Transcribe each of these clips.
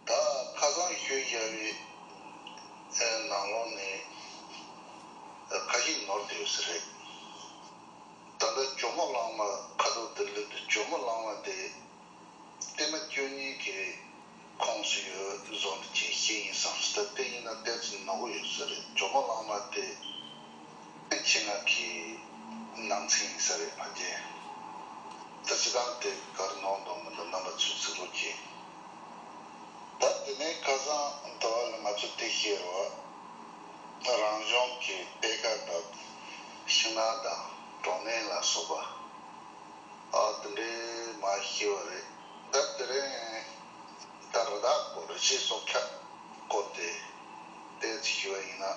ད་ཁ་སང་ཁྱོད་རྒྱ་བའི་ནང་ལོག་ནས་ཁ་ཞིག་ནོར་དེ་ཡོད་ས་རེད། ད་ལྟ་ཇོ་མོ་གླང་མ་ཁ་ཐོག་འདིར་སླེབས་འདུག་ཇོ་མོ་གླང་མ་དེ་བསྟན་མ་སྐྱོན་གཉིས་ཀྱི་ཁོངས་སུ་ཡོད་བཟོ་འདུག་ཅིག་ཤེས་ཡིན་བསམ་ད་ལྟ་ཡིན་ན་གཏེར་ཚུལ་ནོར་གོ་ཡོད་ས་རེད་ཇོ་མོ་གླང་མ་དེ་ནས་ཆེད་མངགས་ཀྱིས་ནང་ཚིག་ཡིན་ས་རེད་བ་དེ། ད་ཅི་སྟངས་དེ་གར་ནོར་འདུག་མི་འདུག་རྣམ་པ་ཚུགས་ཚུགས་རོགས་གྱིས། ད་དེ་ནས་ཁ་སང་ད་བར་ལ་ང་ཚོ་དེ་ཤེས་རོགས། རང་གཞུང་གི་སྤེལ་ཀ་དང་ཕྱི་ནང་དང་གྲོང་སྣེ་ལ་སོགས་པ། དེ་འདྲའི་མ་ཤེས་བ་རེད་ད་དེ་རིང། ད་རི་དྭགས་སྐོར་རི་ཆས་སྲོག་ཆགས་སྐོར་དེ་བལྟས་ཚེ་ཤེས་བ་ཡིན་ན།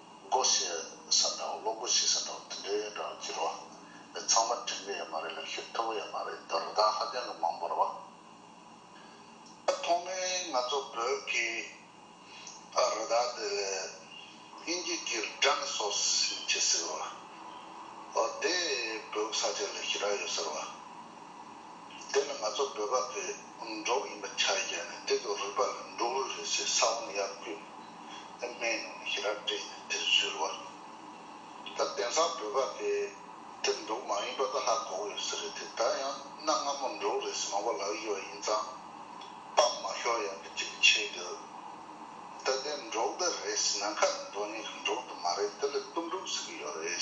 སྒོ་ཕྱེ་ས་དང་གློག་སྒོ་ཕྱེ་ས་དང་དེ་འདྲའི་འདྲ་བར་གྱུར་བ། དེ་ཚང་མ་དྲིན་ལས་ཡོད་མ་རེད་ལ་ཤུགས་མཐུ་བོ་ཡོད་མ་རེད་དོ་རི་དྭགས་ཧ་ཅང་གི་མང་པོར་བ། ཐོག་མའི་ང་ཚོ་བོད་ཀྱི་རི་དྭགས་དེ་ལས་དབྱིན་ཇི་ཀྱི Dinosaurs ཞེས་བྱས་ཟེར་བ། དེ་བོད་ས་ཆ་ལ་ཞི་དྲག་ཡོད་ཟེར་བ། དེ་ནི་ང་ཚོ་བོད་པ་ཚོས་འབྲོག་ཡིན་པ་ཆ་རེ་བརྒྱབ་ནས་དེ་ཚོ་རུས་པ་ལ་འབྲོག་རུས་རེད་ཟེར་ས་བོན་གཡར་དགོས། ཨེ་སྨྲས་ནོ་ཞེས་རབ་བཀྲེས་ནས་དེར་བཞུར་བར་གྱུར། ད་དེང་སང་བོད་པ་དེ་དེར་འདུག་མ་ཡིན་པ་ད་ཧ་གོ་གི་ཡོད་ས་རེད་དེ་ད་ཡང་གནའ་སྔ་མོར་འགྲོ་གི་རེད་ཟེར་མང་པོ་ལབ་ཡི་བ་ཡིན་ཙང་སྤམ་མ་ཤོར་ཡག་གི་ཅིག་མཆིས་དགོས། ད་དེ་འབྲོག་སྡེ་རེད་ཟེར་ན་ཁ་ནས་འདོན་ཡི་གི་འབྲོག་སྡེ་མ་རེད་དེ་ལས་གཏུམ་དྲུག་ཟེར་གི་ཡོད་རེད།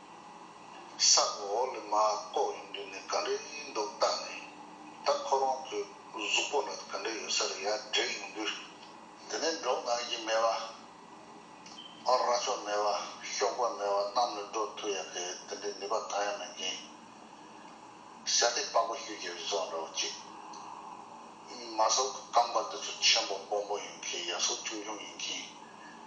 ས་གོ་འོག་ལས་མ་བཀོག་ཡོང་དུས་ནས་ག་འདྲེ་ཡིན་འདུག་བལྟ་ནས་ད་ཁོ་རང་གི་གཟུགས་པོ་ལ་ག་འདྲེ་ཡོད་ས་རེད་ཡ་དྲན་ཡོང་དུས། དེ་ནས་འབྲོག་ནག་གི་མེ་བ། རྭ་ཅོ་མེ་བ་ཤོག་བུ་མེ་བ་རྣམས་ལས་འབྲོག་ཐུ་ཡག་གི་དེ་འདྲའི་ནུས་པ་གང་ཡང་མེད་རྐྱེན། བྱ་སྟེགས་དཔའ་བོ་ཤོས་ཀྱི་རི་ཚོགས་འདྲ་བོ་ཅིག། མ་ཟོག་གི་སྐམ་པ་དེ་ཚོ་ཆེན་པོ་སྦོམ་པོ་ཡིན་མཁན་ཡ་ཟོག་ཆུང་ཆུང་ཡིན་མཁན།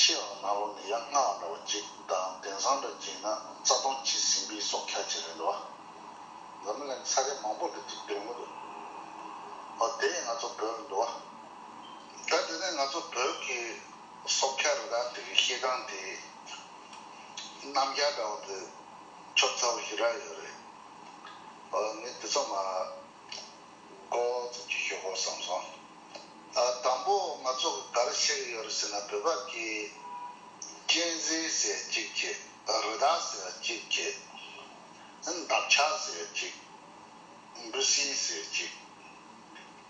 ཕྱེད་ལ་ནག་ལོ་ནི་ཡ་ལྔ་ལ་འདྲ་བ་གཅིག་དང་གདན་བཟང་འདྲ་གཅིག་ན་རྩ་སྟོང་གཅིག་ཟིན་པའི་སོག་ཁྱ་བྱེད་རན་འདུག་ཨ། འཛམ་གླིང་ལ་ས་རས་མང་པོ་འདུག་ཅིག་དོན་ངོ་དོ། ཨོ་དེ་ཡིན་ང་ཚོ་བོད་ལ་འདུག་ཨ། ད་དེ་ནས་ང་ཚོ་བོད་ཀྱི་སོག་ཁྱ་རི་དྭགས་དེ་གི་ཤེལ་སྒང་དེ་གནམ་རྒྱ་འདྲ་བ་དེ་ཆོབ་ཚ་བོ་ཞིག་རག་ཡོད་རེད། ཨོ་ངས་དེ་ཚོ་མ། ཀོ་ཙི་ཀྱི་ཞོག་པོ་བསམ་སོང། དང་པོ་ང་ཚོ་ག་རེ་བྱེད་ཀྱི་ཡོད་རེད་ཟེར་ན་བོད་པ་ཀྱིས་སྤྱན་གཟིགས་ཟེར་གཅིག་ཀྱེ། རི་དྭགས་ཟེར་གཅིག་ཀྱེ། འདབ་ཆགས་ཟེར་གཅིག། འབུ་སྲིན་ཟེར་གཅིག།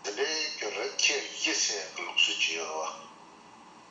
དེ་འདྲའི་ཀྱི་རེད་ཁྱེད་ཡིད་སེམས་ཀྱི་ལུགས་སྲོལ་ཅི་ཡོད་རེད་བ།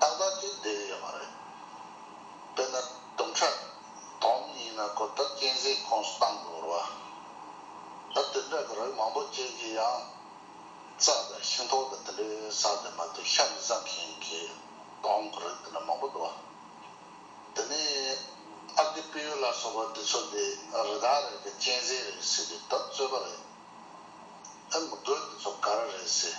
ཏག་ཏག་ཅིག་བསྡད་ཡོད་མ་རེད། དཔེར་ན་དུམ་ཁྲག་དོམ་གཉིས་ན་གོ་བརྡ་གཅན་གཟན་ཁོངས་སུ་གཏང་དགོས་བར་བ། ད་དུད་འདྲ་གི་རིགས་མང་པོ་ཅན་གྱི་ཡང་རྩ་དང་ཤིང་ཐོག་དང་དེ་འདྲའི་ས་དེ་མ་གཏོགས་ཤ་མི་བཟང་མཁན་གྱི་དོམ་གྱི་རིགས་དེ་འདྲ་མང་པོ་འདུག་བ། དེ་ནས་ཨ་བདེ་དཔེ་ཡུལ་ལ་སོགས་པ་འདི་ཚོ་དེ་རི་དྭགས་རེད་གི་གཅན་གཟན་རེད་ཟེར་དུས་ད་རྩོད་པ་རེད། ཨེ་མི་དགོས་འདི་ཚོ་ག་རེ་རེད་ཟེར།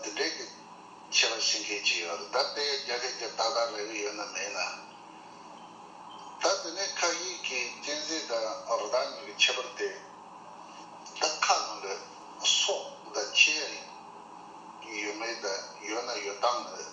འདི་འདྲའི་གི་ཆེ་བ་ཤིང་ཁེ་ཅི་ཡོད་ད་ལྟའི་རྒྱ་ཁེ་རྒྱ་ཏག་ཏག་རེ་བས་ཡོད་ན་མེད་ན། ད་དེ་ནས་ཁག་ཡིག་གི་གཅན་གཟན་དང་རི་དྭགས་གཉིས་ཀྱི་ཁྱད་པར་ཏེ། ད་ཁ་ལོ་ལོད་སོགས་ད་ཁྱེད་ཡོད་མེད་ད་ཡོད་ན་ཡོད་སྟངས་རེད།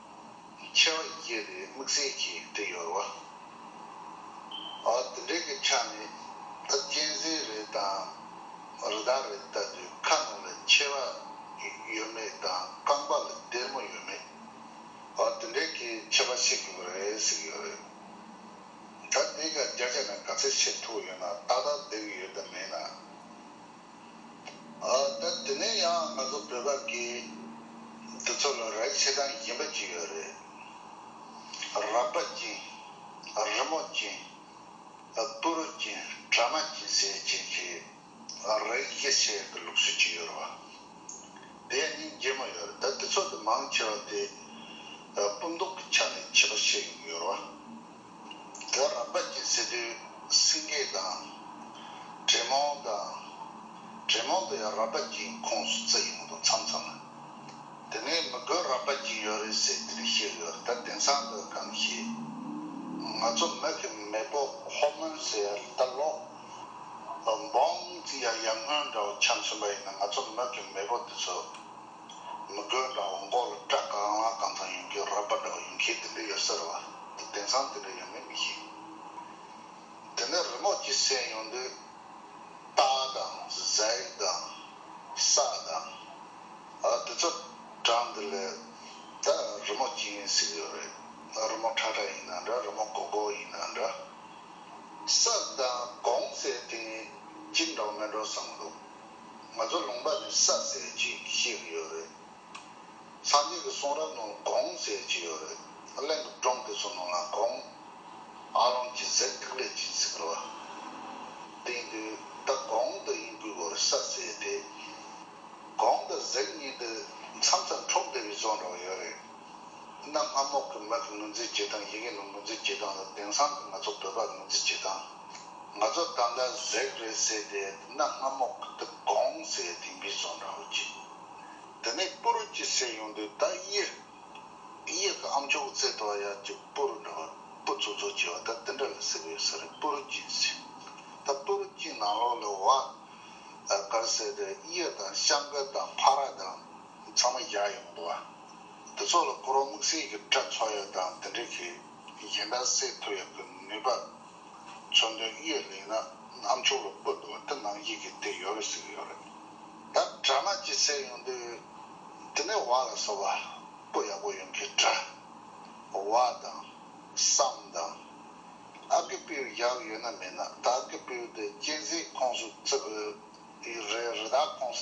ཆེ་བ་ཡིས་བསྐྱེད་པའི་དམིགས་བསལ་གྱི་དྲི་ཡོར་བ། དེ་འདྲའི་གི་ཆ་ནི་ད་གཅན་གཟན་རེད་དང་རི་དྭགས་རེད་ལྟ་དུས་ཁ་ནང་ལ་ཆེ་བ་ཡོད་མེད་དང་རྐང་པ་ལ་སྡེར་མོ་ཡོད་མེད་དེ་འདྲའི་གི་ཆ་བ་ཤེས་དགོས་པ་རེད་ཟེར་གི་ཡོད་རེད། ད་དེ་ག་རྒྱ་ཆ་ནས་ག་ཚད་ཆེ་མཐོ་ཡོད་ན་ཏག་ཏག་བསྡད་གི་ཡོད་དམ་མེད་ན། ད་དེ་ནས་ཡང་ང་ཚོ་བོད་པ་གི་འདི་ཚོ་ལ་ར་ཆེ་སྟངས་ཡིན་པ་ཅིག་ཡོད་རེད། ར་པ་ཅིང། རི་མོ་ཅིང། པུ་རུ་ཅིང་བྲ་མ་ཅིང་ཟེ་ཅིང་གི་ར་ཡིག་ཡེ་ཤེས་ཀྱི་ལུགས་སྲོལ་ཅིག་ཡོད་རེད། དེ་ཡང་སྙིང་རྗེ་མོ་ཡོད་རེད་ད་དེ་ཚོ་དེ་མང་ཆེ་བ་དེ་སྤུ་མདོག་གི་ཆ་ནས་བྱེད་པ་ཤེས་ཡོང་གི་ཡོད་རེད། དེ་བ་རང་བདག་སྐྱེ་ཚེ་དུས་སེང་གེ་དང། དྲེད་མོང་དང། དྲེད་མོང་དུ་ཡང་ར་བདག་སྐྱེའི་ཁོངས་སུ་བརྩི་ཡོང་དོ་མཚམས་མཚམས་ལ། དེ་ནས་མི་དགོས་ར་བདག་སྐྱེ་ཡོད་རེད་ཟེར་དེ་རིགས་བཤད་ཡོད་ད་དེང་སང་ལོས་གང་ཤེས། ང་ཚོ་མི་གི་མེས་པོ་ཧོར་མོན་ཟེར་ད་ལོག། འབངས་ཀྱི་ཡ་ཡ་སྔོན་འདྲ་བོ་འཁྱམས་ཟིན་པ་ཡིན་ན་ང་ཚོ་མི་གི་མེས་པོ་དེ་ཚོ། མི་དགོས་འདྲ་བོ་མགོ་ལ་སྐྲ་ག་རང་ལ་གང་ཚང་ཡོང་རྒྱུ་རག་པ་འདྲ་བོ་ཡོང་མཁན་དེ་འདྲ་ཡོད་ཟེར་བ་དེ་བདེན་ཚང་དེ་འདྲ་ཡོད་མེད་མི་ཤེས། དེ་ནས་རི་ངོགས་ཀྱི་གསན་ཡོང་དུས། རྟ་དང། གཟེགས་དང། ས་དང། དེ་ཚོ་གྲངས་འདི་ལས། ད་རི་མོ་ཅི་ཡིན་གཟིགས་ཡོད་རེད། རི་མོ་ཁྲ་ཁྲ་ཡིན་ན་འདྲ་རི་མོ་གོག་གོག་ཡིན་ན་འདྲ། ས་དང། གོང་གསལ་དེ་གཉིས་གཅིག་འདྲ་བོ་མེད་འགྲོ་བསམ་གྱི་འདུག། ང་ཚོ་ལུང་པ་ནས་ས་ཟས་ཅིག་བཤིག་གི་ཡོད་རེད། སངས་རྒྱས་ཀྱི་གསུང་རབ་ནང་གོང་ཟས་ཅིག་ཡོད་རེད། གླིང་གི་སྒྲུང་དེ་ཚོ་ནང་ལ་གོང་ཨ་ལོང་གྱི་ཟས་ཐིག་ལེ་ཅིག་ཟིག་རེད་བ། དེང་དུས་ད་གོང་དུ་ཡིན་པའི་བར་ས་ཟས་དེས་གོང་དུ་ཟས་གཉིས་འདི་མཚམས་སུ་འཁྲུགས་བསྡད་པའི་བཙོན་ར་བ་ཡོད་རེད། གནམ་ལྷ་མོག་གི་མིག་གི་ངོས་འཛིན་བྱེད་སྟངས་ཡིག་རྙིང་གི་ངོས་འཛིན་བྱེད་སྟངས་ལ་དེང་སང་གི་ང་ཚོ་བོད་པ་ངོས་འཛིན་བྱེད་སྟངས་ང་ཚོ་ད་ལྟ་ཟེགས་རེད་ཟེར་ཏེ་གནམ་ལྷ་མོག་གི་དུག་སྒོང་ཟེར་དེ་འབུས་སོང་འདྲ་བོ་གྱིས། དེ་ནས་སྤུ་རུ་གྱི་ཟེར་ཡོང་དུས་ད་གཡི། གཡི་གི་ཨ་མཆོག་གི་རྩེ་ཐོག་ཡར་གྱི་སྤུ་རུ་འདྲ་བ་སྤུ་ཚུག་ཚུག་གྱི་བ་ད་དེ་འདྲ་ལ་ཟེར་གི་ཡོད་ས་རེད་སྤུ་རུ་གྱིན་ཟེར། ད་སྤུ་རུ་གྱིན་ནང་ལོགས་ལ་བ་གར་ཟེར་ཏེ་གཡི་དང་ཤམ་བུ་དང་ཕ་ར་དང་ཚང་མ་བཞག་ཡོང་འདུག་བ། འདི་ཚོ་ལ་སྐོར་བ་དམིགས་བསལ་གྱི་སྤྲ་ཚོགས་ཡོད་དང་དེ་འབྲེལ་གྱི་ཡན་དག་སེལ་ཐུབ་ཡོད་པའི་ནུས་པ། མཚོན་དོན་གཡས་ལེགས་ན་གནམ་ཆོག་ལ་སྤོས་འདུག་བ་དེ་ནང་ཡིག་གི་དེ་ཡོད་རེད་ཟེར་གྱི་ཡོད་རེད། ད་སྤྲ་སྣ་གཅིག་སེལ་ཡོང་དུས་དེ་ནས་བ་ལ་སོགས་པ་སྤོ་ཡག་པོ་ཡོང་གི་འདྲ། བ་དང། སམ་དང། ཨ་ཀི་པིའུ་ཡག་ཡོད་ན་མེད་ན་ད་ཨ་ཀི་པིའུ་དེ་གཅན་གཟན་ཁོངས་སུ་བརྩི་དགོས་རེད་རེ་ད་ཁོངས་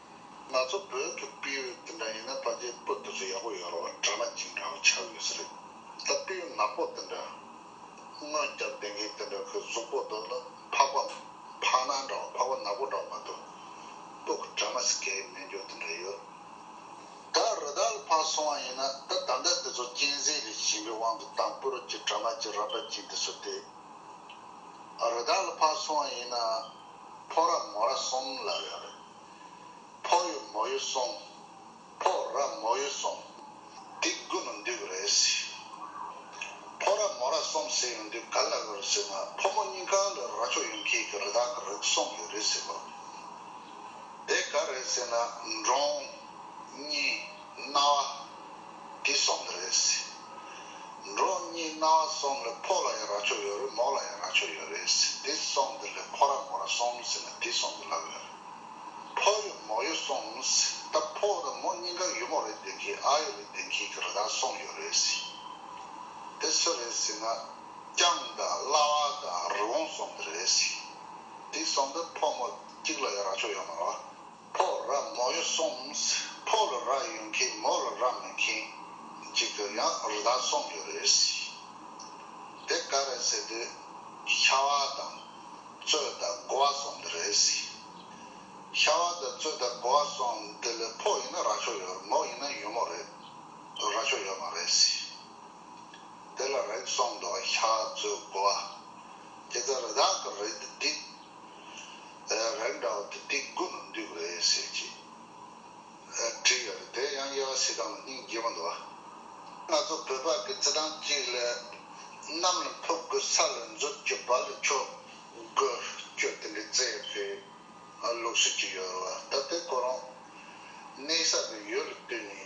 ང་ཚོ་བོད་ཀྱི་དཔེ་ཡོད་དེ་འདྲ་ཡིན་ན་ད་ཆའི་བོད་དེ་ཚོ་ཡག་པོ་ཡོད་རོགས་གྲ་མ་གཅིག་འདྲ་བོ་ཆགས་ཡོད་ས་རེད་ད་དཔེ་ཡོད་ནག་པོ་དེ་འདྲ་སྔོན་རྒྱབ་དེ་འགའི་དེ་འདྲ་ཁོའི་གཟུགས་པོ་འདུག་ལ་འཕགས་པ་འཕགས་ནག་འདྲ་བོ་འཕགས་པ་ནག་པོ་འདྲ་བོ་མ་འདུག་པོ་ཁོ་གྲ་མ་སི་ཀའི་སྨན་སྦྱོར་དེ་འདྲ་ཡོད་ད་རི་དྭགས་ལ་འཕགས་སོང་བ་ཡིན་ན་ད་ད་ལྟ་དེ་ཚོ་གཅན་གཟན་རིགས་གཞན་པའི་དབང་དུ་དང་པོ་རུ་གྱི་གྲ་མ་གཅིག་ར་བ་གཅིག་འདི་ཚོ་དེ་རི་དྭགས་ལ་འཕགས་སོང་བ་ཡིན་ན་ཕོ་ར་མོ་ར་གསུམ་ལ་ཡོད་རེད། ཕོག་ཡོད་མོག་ཡོད་སོང། ཕོག་ར་མོག་ཡོད་སོང། འདི་དགུ་ནི་འདུས་པ་རེད། ཕོག་ར་མོག་ར་སོང་ཟེར་ཡོང་དུས་ག་ལ་འོས་ཟེར་ན་ཕོ་མོ་གཉིས་གང་ལ་ར་ཆོག་ཡོང་ཁྱེད་ཀྱི་རི་དྭགས་ཀྱི་རིགས་སོང་ཡོད་རེད་ཟེར་བ་དེ་ག་རེད་ཟེར་ན་འབྲོང། གཉིས། རྣ་བ། དེ་གསུམ་དུ་རེད། འབྲོག་གཉིས་རྣ་བ་གསུམ་ལས་ཕོ་ལ་ཡང་ར་ཆོ་ཡོད་རེད་མོ་ལ་ཡང་ར་ཆོ་ཡོད་རེད། དེ་གསུམ་དུ་ལས་ཕོ་ར་མོ་ར་གསུམ་ཟེར་ན་དེ་གསུམ་དུ་ལབ་ཡོད་རེད། ཕོ་ཡོད་མོ་ཡོད་གསུངས། ད་ཕོ་དང་མོ་གཉིས་ཀ་ཡོད་མོ་རེད་བདེན་གི་ཨ་ཡོད་རེད་བདེན་གི་གི་རེད་ད་གསུངས་ཡོད་རེད། དེ་སུ་རེད་ཟེར་ན། སྐྱང་དང་གླ་བ་དང་རི་བོང་གསུམ་དུ་རེད། དེ་གསུམ་དུ་ཕོ་མོ་གཅིག་ལ་ཡང་ར་ཆོ་ཡོད་མ་རོ། ཕོ་ར་མོ་ཡོ་སོང་ཕོ་ལ་ར་ཡོ་མཁན་མོ་ལ་ར་མི་མཁན་གཅིག་དུ་ཡང་རི་དྭགས་སོང་ཡོ་རེད་སྲིད་དེ་ག་རེད་ཟེར་དུས་ཤ་བ་དང་གཙོད་དང་དགོ་བ་སོང་འདི་རེད་སྲིད་ཤ་བ་དང་གཙོད་དང་དགོ་བ་སོང་འདི་ལ་ཕོ་ཡིན་ན་ར་ཆོ་ཡོ་རེད་མོ་ཡིན་ན་ཡོ་མོ་རེད་ར་ཆོ་ཡོ་མ་རེད་སྲིད་དེ་ལ་རེག་སོང་འདོ་བ་ཤ་གཙོད་དགོ་བ་དེ་ད་རི་དྭགས་གི་རེད་དེ་རེད། རེད་འདྲ་བ་དེ་སྡིག་དགོས་ལ་འདུས་པ་རེད་ཟེར་གྱི། བྲིས་ཡོད་རེད་དེ་ཡང་དབྱེ་བ་སྲིད་ཏང་ལ་སྙིང་རྗེ་བོ་འདུག་ཨ། ང་ཚོ་བོད་པ་གི་རྩི་ཐང་གཅིག་ལས། གནམ་ལ་འཕུར་དགོས་ས་ལ་འཛུལ་དགོས་བར་ལ་ཆོས་དགོས་ཆོས་དེ་འདྲའི་རྩི་ཡོད་རེད་ལུགས་སྲོལ་གཅིག་ཡོད་རེད་བ་ད་དེ་ཁོ་རང། གནས་ས་བའི་ཡུལ་ལ་བཏུས་ནས།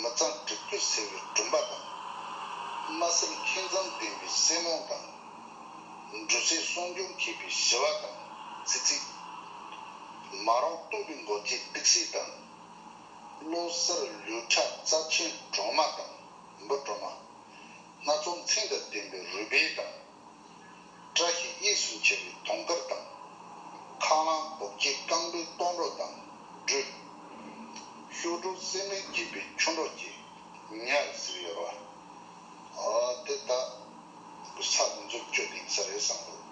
མི་གཙང་གྲིབ་སྐྱུག་སེལ་བའི་སྦྲུམ་པ་དང། དམའ་སེམས་མཁས་མཛངས་ལྡན་པའི་སྲེ་མོང་དང། འབྲུ་ཚའི་སྲུང་སྐྱོང་མཁས་པའི་ཞི་བ་དང་ཙི་ཙི། མ་རོང་སྟོད་པའི་མགོ་སྐྱེས་ཏིག་སི་དང། བློ་གསར་ལུས་ཁྲག་རྩ་ཆེན་གྲོ་མ་དང་འབུ་གྲོ་མ། སྣ་ཚོགས་མཚན་དང་ལྡན་པའི་རུས་སྦལ་དང། བཀྲ་ཤིས་གཉིས་སུ་མཆེད་པའི་དུང་དཀར་དང། ཁ་རླངས་རྡོ་རྗེ་རྐང་པའི་སྟོང་རོ་དང་སྦྲུལ། གཤོག་དྲུག་གསེར་མིག་བརྒྱད་པའི་ཆུ་འབྲོག་ཅེས་ཉག་གཟིགས་ཡོད། དེ་དག་གི་ས་དེ་ཚོ་ཁྱོད་དེང་སང་རེད་བསམ་འདུག།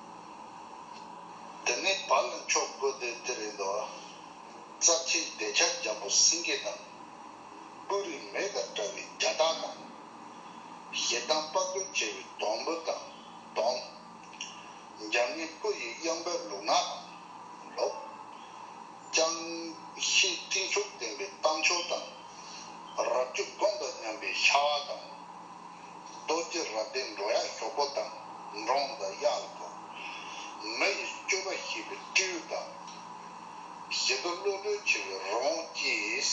དེ་ནས་བར་ལ་མཆོག་དགོས་དོན་དེ་རེད་འདུག། རྩ་ཆེན་བདེ་ཆར་འཇམ་པོ་སེང་གེ་དང། སྤུ་རིས་མེ་དང་བཀྲ་བའི་རྒྱ་སྟག་དང། ཞེ་སྡང་དཔའ་རྟུལ་བྱེད་པའི་སྡོང་བུ་དང་སྡོམ། འཇམ་མཉེན་སྤུ་ཡི་གཡང་འབེབས་ལུག་ནག་དང་ལོག། ཅང་ཤེས་སྤྲིན་ཕྱོགས་ལྡན་པའི་གཏམ་ཕྱོགས་དང། རབ་བརྗོད་སྒོམ་དང་མཉམ་པའི་ཤྭ་བ་དང། རྡོ་རྗེ་རབ་ལྡན་འགྲོ་ཡག་ཞོག་པོ་དང་འབྲོང་དང་གཡག་ལ་གོ། མི་ཡི་སྤྱོད་པ་ཤེས་པའི་སྤྲེའུ་དང། ཞེ་དུག་བློ་གྲོས་ཆེ་བའི་རི་བོང་ཅེས།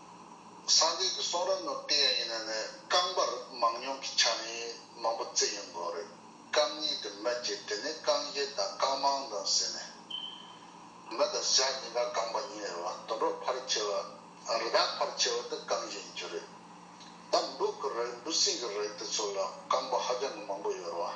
སངས་རྒྱས་ཀྱི་གསུང་རབ་ནོར་དེ་ཡང་ཡིན་ན་ནི་རྐང་པར་མང་ཉུང་གི་ཆ་ནས་མང་པོ་བརྩི་ཡོང་དགོས་རེད། རྐང་གཉིས་དེ་མི་བརྗེ་དེ་ནི་རྐང་བཞི་དང་རྐང་མང་དང་ཟེར་ནས། མི་དང་བྱ་གཉིས་ཀ་རྐང་པ་གཉིས་རེད་བ་དུད་འགྲོ་ཕར་ཆེ་བ་དང་རི་དྭགས་ཕར་ཆེ་བ་དེ་རྐང་བཞི་ཡིན་རྒྱུ་རེད། ད་འབྲུག་གི་རིགས་འབྲུ་སྲིན་གྱི་རིགས་དེ་ཚོ་ལ་རྐང་པ་ཧ་ཅང་གི་མང་པོ་ཡོད་རེད་བ།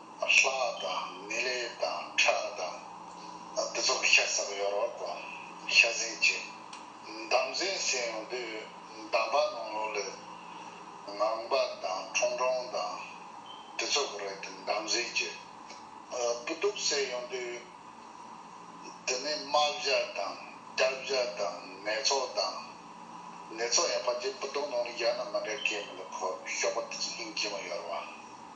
ལྷ་དང་མི་ལས་དང་ཁྲག་དང། འདི་ཚོགས་ཤ་ཟ་ཡོ་རོགས་དང་ཤ་ཟིན་ཅིག། འདམ་ཟན་སྲན་ཡོང་དུས་འདམ་པ་ནང་ལོགས་ལས། ངང་པ་དང་ཁྲོང་ཁྲོང་དང་འདི་ཚོགས་རེད་དེ་འདམ་ཟིན་ཅིག། སྤུ་སྡུག་སྲན་ཡོང་དུས། དེ་ནི་རྨ་བྱ་དང་སྐྱ་བྱ་དང་ནད་ཚོགས་དང། ནད་ཚོགས་ཡང་ཕ་རྗེས་སྤུ་སྡུག་ནང་ལོགས་རྒྱག་ན་མ་འདྲ་སྐད་མི་འདུག་གོ་ཤོག་པ་འདི་ཚོ་སྙིང་རྗེ་མོ་ཡོ་རོགས།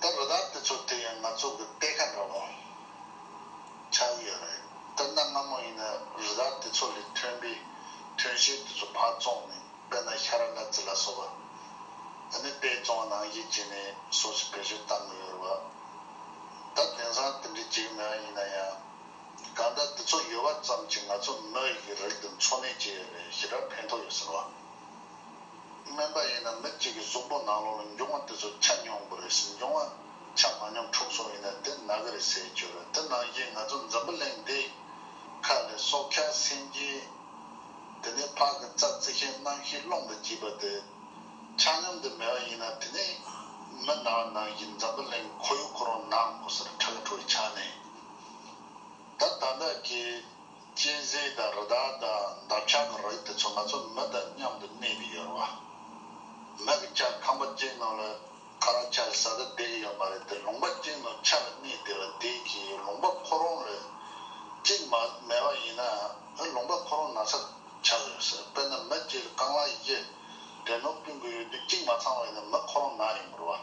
ད་རོ་ད་དེ་ཚོ་དེ་ཡང་ང་ཚོ་གི་དཔེ་ཁ་འདྲ་བོ་ཆགས་ཀྱི་ཡོད་རེད་ད་གནའ་སྔ་མོ་ཡིན་ན་རི་དྭགས་དེ་ཚོ་ལས་ཐོན་པའི་ཐོན་ཤིང་དེ་ཚོ་ཕར་བཙོང་ནས་དཔེར་ན་ཤ་ར་ནག་ཙི་ལ་སོགས་པ་དེ་ནས་དཔེ་བཙོང་བ་ནང་བཞིན་བྱས་ནས་སོགས་ཞེས་བེད་སྤྱོད་བཏང་གི་ཡོད་རེད་བ། ད་དེང་སང་དེ་འདྲའི་བྱེད་ཀྱི་མེད་པ་ཡིན་ན་ཡང་གང་ལྟར་དེ་ཚོ་ཡོད་པ་ཙམ་གྱིས་ང་ཚོ་མི་ཡི་རིགས་དེ་འཚོ་གནས་བྱས་ཡོད་རེད་ཞེ་དྲག་ཕན་ཐོགས་ཡོད་ཟེར་བ། སྨན་པ་ཡིན་ན་མི་གཅིག་གིས་གཟུགས་པོ་ནང་ལོགས་ལ་འབྱུང་བ་དེ་ཚོ་ཆ་མྱོང་དགོས་རེད་ཟེར་འབྱུང་བ་ཆ་མ་མྱོང་འཁྲུགས་སོང་ཡིན་ན་དེ་ན་ག་རེ་ཟེར་གྱི་རེད་དེ་ནང་བཞིན་ང་ཚོ་འཛམ་བུ་གླིང་འདི་ཁ་ལས་སྲོག་ཁ་སེམས་ཀྱི་དེ་ནས་ཕག་གི་རྩ་རྩི་ཤིང་རྣམ་ཤེས་རླུང་དུ་བཅུས་པ་དེ་ཆ་སྙོམས་དུ་མེད་པ་ཡིན་ན་དེ་ནས་མི་ན་བ་ནང་བཞིན་འཛམ་བུ་གླིང་ཁོ་ཡུག་ཁོ་རང་ནང་ངོ་སར་ཁྲག་ཁྲུག་ཆགས་ནས་ད་ད་འདྲ་གི། གཅན་གཟན་དང་རི་དྭགས་དང་འདབ་ཆགས་ཀྱི་རིགས་དེ་ཚོ་ང་ཚོ་མི་དང་མཉམ་དུ་གནས་ཀྱི་ཡོད་རེད་བ། མི་གི་ལྕགས་ཁང་པ་ཅན་ནང་ལ་ཁ་རང་ཆ་ལ་ས་ལ་བསྡད་ཀྱི་ཡོད་མ་རེད་དེ་ལུང་པ་ཅན་ནང་ཆ་ལ་གནས་དེ་ལ་བསྡད་ཀྱི་ཡོད་ལུང་པ་ཁོ་རང་ལ་གཅིག་མ་མེད་པ་ཡིན་ན་ལུང་པ་ཁོ་རང་ན་ཚ་ཆགས་ཀྱི་ཡོད་ས་དཔེར་ན་མི་གཅིག་ལ་རྐང་ལག་བརྒྱད་དྲན་ནོར་བསྐྲུན་དགོས་ཡོད་དུས་གཅིག་མ་ཚང་བས་ན་མི་ཁོ་རང་ན་ཡོད་མི་རུང་བ།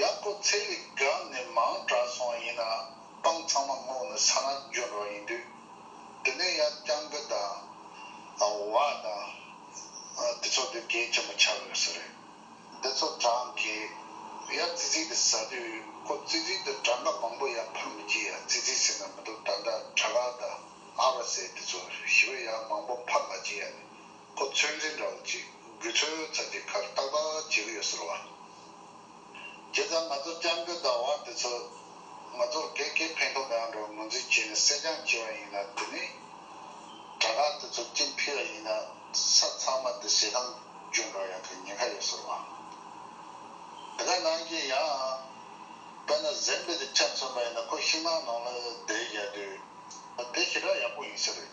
ཡག་པོ་ཚེ་ལི་སྒང་ནས་མང་དྲག་སོང་ཡིན་ན་སྤང་ཚང་མ་སྔོག་ནས་ས་ན་འཇོན་རོགས་ཡིན་དུས་དེ་ནས་ཡ་རྐྱང་པོ་དང་བ་དང་དེ་ཚོ་དེ་རྒྱན་ཆེན་པོ་ཆགས་ཡོད་ས་རེད་དེ་ཚོ་དྲང་གི་ཡ་ཙི་ཙི་དེ་ཟ་དུས་ཁོ་ཙི་ཙི་དེ་དྲང་ག་མང་པོ་ཡ་འཕར་མི་བགྱིད་ཡ་ཙི་ཙི་ཟེར་ན་མི་འདུག་ད་ལྟ་དྲ་ག་དང་ཨ་བ་སེ་དེ་ཚོ་ཞི་བ་ཡ་མང་པོ་འཕར་མ་བགྱིད་ཡ་ནི་ཁོ་ཚོད་འཛིན་འདྲ་བོ་ཅིག་དགོས་ཚོད་ཙམ་གྱི་ཁར་ཏག་ཏག་བྱེད་ཀྱི་ཡོད་ཟེར་བ། དེ་ཙམ་ང་ཚོ་སྤྱང་ཀི་ཟླ་བ་འདི་ཚོ་ང་ཚོར་གས་གས་ཕན་ཐོག་མེད་པ་འདྲ་བ་ངོས་འཛིན་བྱས་ནས་སྲེད་སྦྱང་བྱས་པ་ཡིན་ན་དེ་ནི། དྲ་གྲགས་དེ་ཚོ་སྤྱིན་ཕི་བ་ཡིན་ན་ས་ཚང་མ་དེ་ཟས་ཁང་གྱོན་འདྲ་བ་ཡག་གི་ཉེན་ཁ་ཡོད་ཟེར་བ། འདི་ག་ནང་གི་ཡང། དཔེར་ན་གཟན་པའི་དེ་ཆ་མཚོན་པ་ཡིན་ན་ཁོ་ཤིང་ནགས་ནང་ལ་བསྡད་བཞག་དུས། དེ་ཞེ་དྲག་ཡག་པོ་ཡིན་ས་རེད།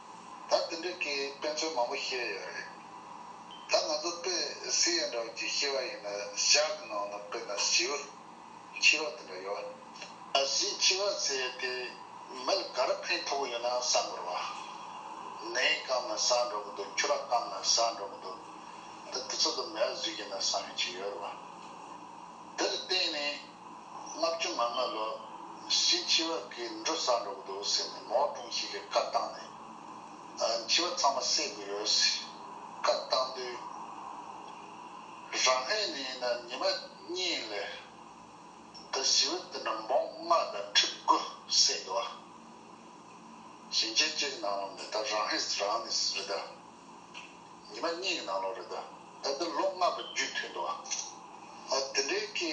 ད་འདི་འདྲ་ཀྱི་དཔེ་མཚོན་མང་པོ་བཤད་ཡོད་རེད། ད་ང་ཚོ་དཔེ་སི་ཡན་འདྲ་བོ་ཅིག་ཤེས་པ་ཡིན་ན་ཞག་གི་ནང་ལ་དཔེ་ན་བྱིའུ་འཆི་བ་དེ་འདྲ་ཡོད། ད་བྱིའུ་འཆི་བ་ཟེར་དེ་མི་ལ་ག་རེ་ཕན་ཐོགས་ཡོད་ན་བསམ་དགོས་རེད་བ། ནས་བསྐམས་ན་ཟ་འགྲོ་གི་འདུག་ཁྱུ་ར་བསྐམས་ན་ཟ་འགྲོ་གི་འདུག་ད་དེ་ཚོ་དང་མལ་བཟོས་ཀྱིན་ན་བསམ་ཡོད་ཅིག་ཡོད་རེད་བ། དེ་ལ་བརྟེན་ནས། ལྔ་བཅུ་ང་ལྔ་ལོ། བཞིན་འཆི་བ་གིས་འགྲོ་ས་འགྲོ་གི་འདུག་ཟེར་ནས་མོ་ཀྲུང་ཞིག་གིས་བཀའ་བཏང་ནས། འཆི་བ་ཚང་མ་བསད་དགོས་རེད་ཟེར་བཀའ་བཏང་དུས། རང་ཧེ་ནི་ཡིན་ན་ཉི་མ་གཉིས་ལས། འདི་ཞི་བ་འདི་འདྲ་འབོང་ལྔ་དང་ཁྲི་དགུ་བསད་དགོས་བ། ཞིང་ཆེན་སྤྱི་གི་ནང་ལ་མེད་ད་རང་ཧེ་རང་ནས་རེད་ད། ཉི་མ་གཉིས་ཀྱི་ནང་ལོགས་རེད་ད། ད་འདི་ལོ་ལྔ་དང་བཅུ་ཐོན་འདུག་ཨ། འདི་འདྲའི་སྐད།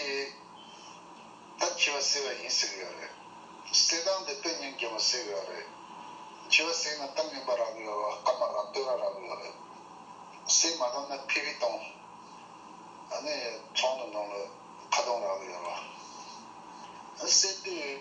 ད་འཆི་བ་སེལ་བ་ཡིན་ཟེར་གི་ཡོད་རེད། གསེར་ཐང་འདི་ལྟ་ཉིན་རྒྱལ་མོ་ཟེར་གི་ཡོད་རེད། འཆི་བ་སེལ་ན་གཏམ་རྙིང་པ་རག་གི་ཡོད་རོ་སྐར་མ་རག་སྟོད་ར་རག་གི་ཡོད་རེད། སེལ་མ་ཐུབ་ན་ཕི་བི་སྟོང། ཨ་ནི་ཚོང་དུ་འདོང་ལོ་ཁ་སྟོང་རག་གི་ཡོད་རོ། ཨ་ནི་སེལ་དུས།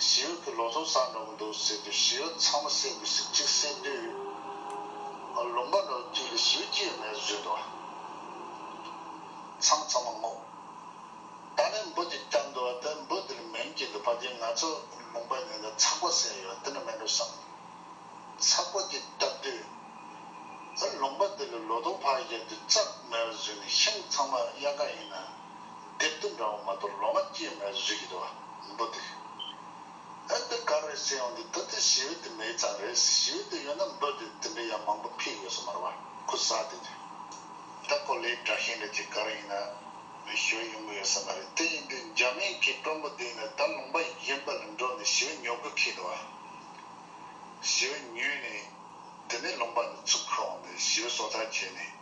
བྱིའུ་ཁྱོད་ལོ་ཚོད་བཟང་འགྲོ་གི་འདུག་ཟེར་དུས་བྱིའུ་ཚང་མ་བསད་དགོས་ཟེར་གཅིག་བསད་དུས། ལུང་པ་ནོར་སྐྱིད་ལ་བྱིའུ་སྐྱེས་ཡོད་མེད་བཟོས་འདུག་ཚང་ཚང་མ་བསྔོགས། ད་ནི་འབུ་དེ་བསྐྱངས་འདུག་དེ་འབུ་དེ་ལ་མིང་བསྐྱེད་འདུག་བ་དེས་ང་ཚོ་ལུང་པ་གཉིས་ལ་ཚགས་པ་བསད་ཡོད་དེ་འདྲ་མིན་འགྲོ་བསམ། ཚགས་པ་དེ་བཏབ་དུས། ལུང་པ་དེ་ལ་ལོ་ཏོག་ཕར་བཞག་དུས་རྩྭ་མེད་པ་བཟོས་ནས་ཤིང་ཚང་མ་གཡག་རྐང་ཡིན་ན། དེར་བསྟུན་འདྲ་བོ་མ་དོར་ལོ་མ་སྐྱེས་མའི་རིགས་ཡིན་བ་འདུག་སྟེ། ཨ་འདི་ག་རེད་ཟེར་ཡོང་དུས་ད་ལྟའི་ཞི་བའི་དུས་མེད་ཙང་རེད་ཞི་བའི་དུས་ཡོད་ན་འབོད་དེ་དེ་འདྲ་ཡང་མང་པོ་ཕིག་ཡོད་ས་མ་རེད་བ་ཁུ་བཟའ་དེ་དུས། ད་གོ་ལའི་དྲག་ཤིང་རེད་ཅེས་ག་རེ་ཡིན་ན་མི་ཞུ་བ་ཡོང་གི་ཡོད་ས་མ་རེད་དེ་ཡིན་དུས་འཇར་མན་གྱི་སྤྲོ་འབོ་དེ་ཡིན་ན་ད་ལུང་པ་གཞན་པ་ལ་འགྲོ་ནས་ཞི་བ་ཉོ་གི་ཁེལ་འདུག་བ། ཞི་བ་ཉོས་ནས་དེ་ནས་ལུང་པ་ནས་ཚུར་ཁུར་འོང་ནས་ཞི་བའི་སྲོག་ཆགས་བྱས་ནས།